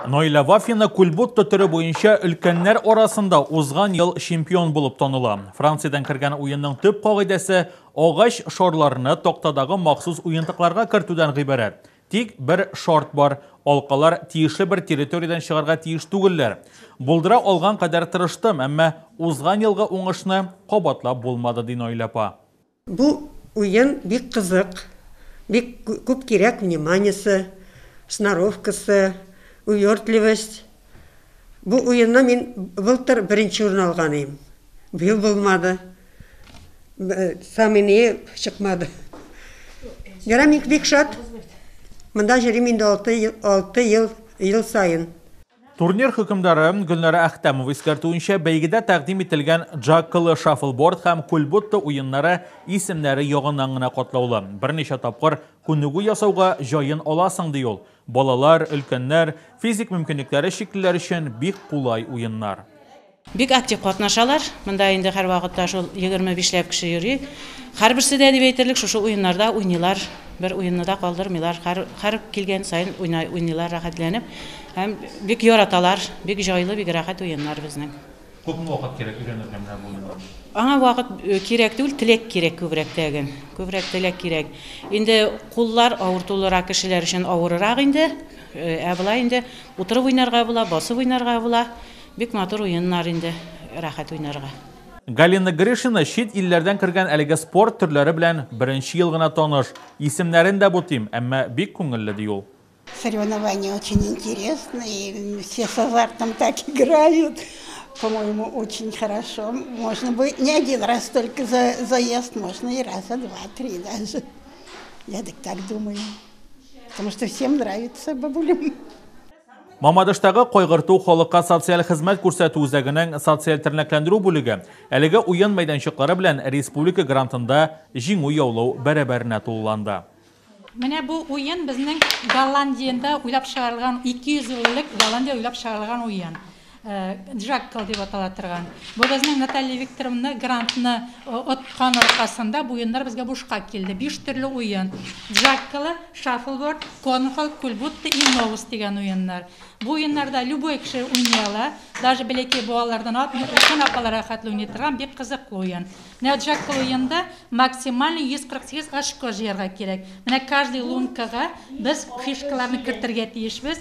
Нойля Вафина кульбутто төре буенча өлкәннәр арасында узган ел чемпион булып таныла. Франциядән кергән уенның төп кагыйдәсе агач шарларны тактадагы махсус уентыкларга кертүдән гыйбарәт. Тик бер шарт бар, алкалар тиешле бер территориядән чыгарга тиеш түгелләр. Булдыра алган кадәр тырыштым, әмма узган елгы уңышны кабатлап булмады, ди Нойля апа. Бу уен бик кызык, бик күп кирәк вниманиесе, сноровкасы, увертливость. Бу уенны мин былтыр беренче урын алган идем. Быел булмады. Самый нее чыкмады. Ярый мин бик шат. Монда йөрим инде алты ел, алты ел, ел саен. Турнир хөкемдары Гөлнара Әхтәмова искәртүенчә, бәйгедә тәкъдим ителгән джаккалы шаффлборд һәм кульбутта уеннары исемнәре ягыннан гына катлаулы. Берничә тапкыр күнегү ясауга җаен аласың, ди ул. Балалар, өлкәннәр, физик мөмкинлекләре чиклеләр өчен бик кулай уеннар. Бик актив катнашалар. Монда инде һәрвакытта шул егерме бишләп кеше йөри. Һәрберсе дә дип әйтерлек шушы уеннарда уйныйлар. Бер уенны да калдырмыйлар. Һәр, һәр килгән саен уйна, уйныйлар рәхәтләнеп. Һәм бик яраталар. Бик җайлы, бик рәхәт уеннар безнең. Күпме вакыт кирәк өйрәнергә менә бу уенга? Аңа вакыт кирәк түгел, теләк кирәк күбрәк тәген. Күбрәк теләк кирәк. Инде куллар авыртулырак кешеләр өчен авырырак инде. Ә болай инде утырып уйнарга була, басып уйнарга була. Бик матур уеннар инде, рәхәт уйнарга. Галина Гришина чит илләрдән кергән әлеге спорт төрләре белән беренче ел гына таныш. Исемнәрен дә бутыйм, әмма бик күңелле, ди ул. Соревнования очень интересные, все с азартом так играют. По-моему, очень хорошо. Можно бы не один раз только за заезд, можно и раза два-три даже. Я так так думаю. Потому что всем нравится бабулям. Мамадыштагы кайгырту халыкка социаль хезмәт күрсәтү үзәгенең социаль тернәкләндерү бүлеге әлеге уен мәйданчыклары белән республика грантында җиңү яулау бәрабәренә тулыланды. Менә бу уен безнең Голландиядә уйлап чыгарылган, 200 ел элек Голландиядә уйлап чыгарылган уен. Джаккал дип атала торган. Бу безнең Наталья Викторовна грантны откан аркасында бу уеннар безгә бушка килде. Биш төрле уен. Джаккалы, шаффлборд, конхол, кульбутта и новус дигән уеннар. Бу уеннарда любой кеше уйный ала. Даже бәләкәй балалардан алып өлкән апалар рәхәтле уйный торган бик кызыклы уен. Менә джаккал уенда максимально 148 очко җыярга кирәк. Менә каждый лункага без фишкаларны кертергә тиешбез.